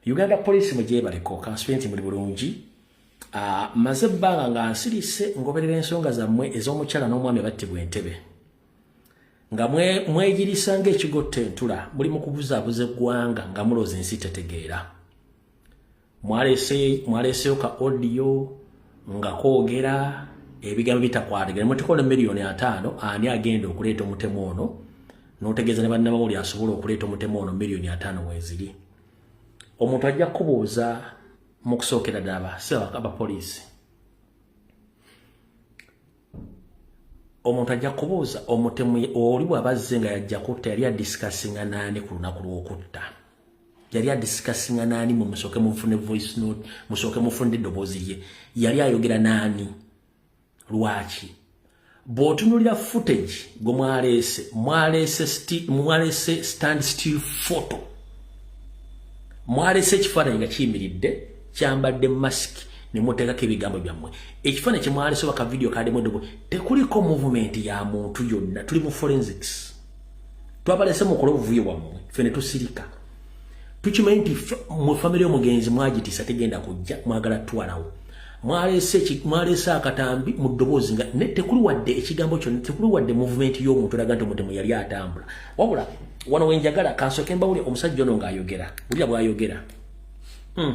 uganda police mugyebaleko kansubire nti muli bulungi ah, maze ebbanga nga nsirise ngoberera ensonga zammwe ez'omukyala n'omwami battibwa entebe nga mwegirisa ngaekigotta entula muli mu kubuzaabuza eggwanga nga mulooza ensi tetegeera mwaleeseyo ka odiyo nga kwogera ebigambo bitakwatagera mutukola emiliyoni ataano ani agenda okuleeta omutemu ono n'otegeeza ne bannabawuli asobola okuleeta omutemu ono miliyoni ataano weeziri omuntu ajja kubuuza mu kusookera ddala abapoliisi omuntu ajja kubuuza omutemu oli bw'aba azze nga yajja kutta yali adisikasinga naani ku lunaku lw'okutta yali adisikasinga naani mu musooke mufune voice note musooke mufune eddoboozi ye yali ayogera naani lwaki bw'otunulira footage gwe mwaleese mwaleese stand still photo mwaleese ekifaananyi nga kiyimiridde kyambadde masiki ne muteekako ebigambo byammwe ekifaananyi kye mwaleese oba ka vidiyo kaademu eddogo tekuliko muvumenti ya muntu yonna tuli mu forensics twabaleese mukole obuvuyo bwammwe ffe ne tusirika tukimanyi nti mu famire y'omugenzi mwagitisa tegenda kujja mwagala twalawo mwaleese akatambi mu ddoboozi nga ne tekuli wadde ekigambo kyonna tekuli wadde muvumenti y'omuntu olaga nti omutemu yali atambula wabula wano wenjagala kansooke mbawule omusajja ono ng'ayogera bulira bw'ayogera hmm.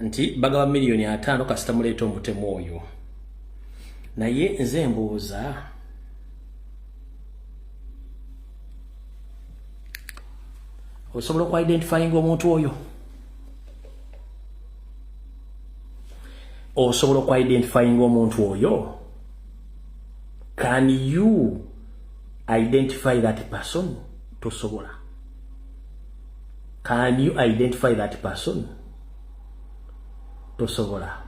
nti bagaba miliyoni ataano kasita muleeta omutemu oyo naye nze mbuuza osobola okuidentifyinga omuntu oyo osobola okuidentifyinga omuntu oyo can you identify that person tosobola can you identify that person tosobola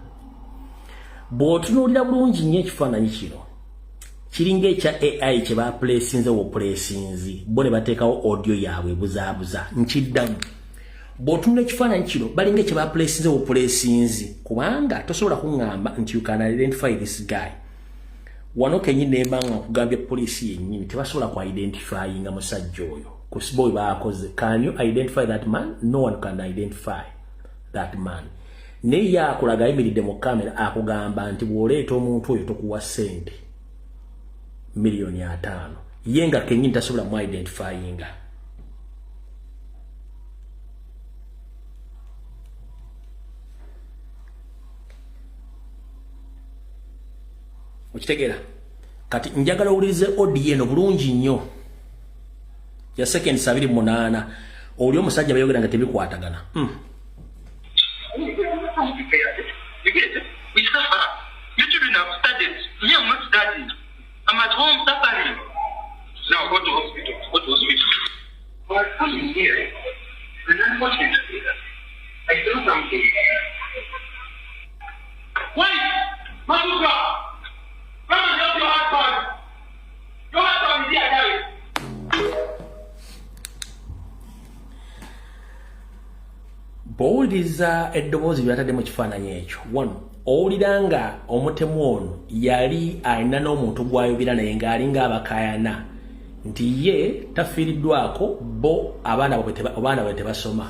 bw'otunuulira bulungi nnyo ekifaananyi kino kiringa ekya ai kye bapulesinze wopulesinzi bo ne bateekawo audio yaabwe ebuzaabuza nkiddamu bw'otunula ekifaananyi kino balinga ekye bapulesinze wopulesinzi kubanga tosobola kuŋŋamba nti you can identify this guy wano kenyini nemba nga nkugambye poliisi yennyini tebasobola ku identifyinga musajja oyo kusboy baakoze can you identify that man no one can identify that man naye ye akulaga ayimiridde mu kamera akugamba nti bw'oleeta omuntu oyo tokuwa ssente miliyoni ataano ye nga kenyini tasobola mu identifyinga okitegeera kati njagala owulirize odieno bulungi nnyo ya second sabiri munana oli omusajja bayogera nga tebikwatagana mm. Why? Manuka! bwowuliriza eddoboozi lyatadde mu kifaananyi ekyo wano owulira nga omutemu ono yali alina n'omuntu gwayogera naye ng'ali ng'abakayana nti ye tafiiriddwako bo abaana bwe tebasoma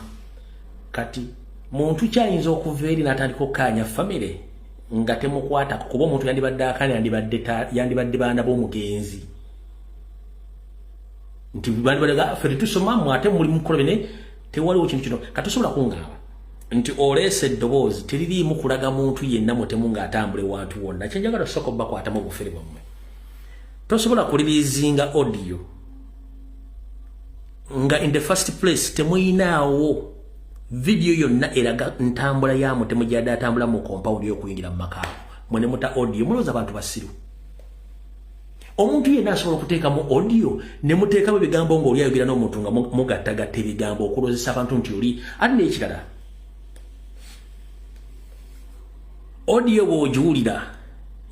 kati muntu kyayinza okuva eri n'atandika okukaanya famire nga temukwatako kuba omuntu yandibadde akana yandibadde yandibadde baana b'omugenzi nti bandibadde ah, ffe tusoma mu ate muli mukukola bene tewaliwo kintu kino katusobola kungaaba nti oleese eddoboozi teririimu kulaga muntu yenna mutemu ng'atambula ewantu wonna kyenjagala tusooka obubakwatamu obufere bwammwe tosobola kuliriizinga audio nga in the first place temuyinaawo video yonna eraga ntambula ya mutemu gyada atambula mu compound yokuyingira mu maka mwe ne muta audio mulooza abantu basiru omuntu yenna asobola okuteekamu audio ne muteekamu ebigambo ng'oli ayogera n'omuntu nga mugattagatta ebigambo okulozesa abantu nti oli ate n'ekirala audio bw'ogiwulira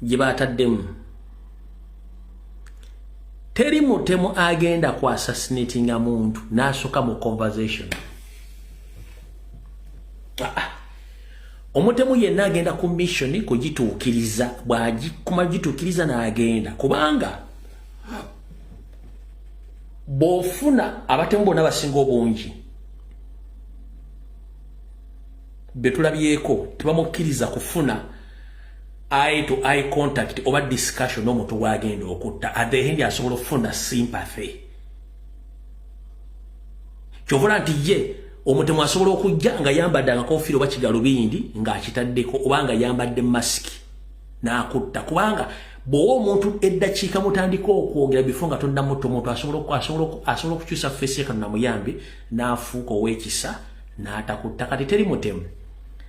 gye baataddemu teri mutemu agenda ku assassinatinga muntu n'asooka mu conversation ah, ah. omutemu yenna agenda ku mission kugituukiriza bwagikuma gituukiriza n'agenda kubanga bw'ofuna abatemu bonna basinga obungi betulabyeko tebamukkiriza kufuna eye to eye contact oba discussion n'omuntu gwagenda okutta at the end asobola okufuna sympathy kyovola nti ye omutemu asobola okujja nga yambadde akakofiira oba kigalubindi ng'akitaddeko oba nga yambadde masiki n'akutta kubanga bw'owa omuntu eddakiika mutandika okwogera bifo nga tonnamutta omuntu asobola okukyusa feesi ye kano namuyambi n'afuuka ow'ekisa n'atakutta kati teri mutemu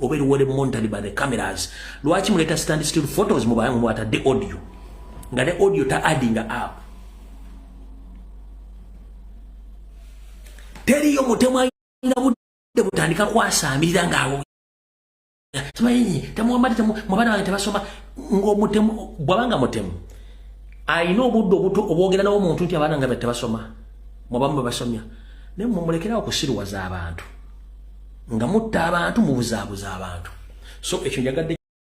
oba eriwere monitored by the cameras lwaki muleta stand still photos mubayangu mwatadde audio nga ne audio ta adding up teriyo mutemu ayina budde butandika kwasamirira ngaawo simanyi temuwambadde temu mwabaana bange tebasoma ngaomutemu bwabanga mutemu ayina obudde obuto obwogera nawo omuntu nti abaana nga tebasoma mwabamu bebasomya naye mumulekerawo kusiriwaza abantu nga mutta abantu mubuzabuza abantu so ekyo njagadde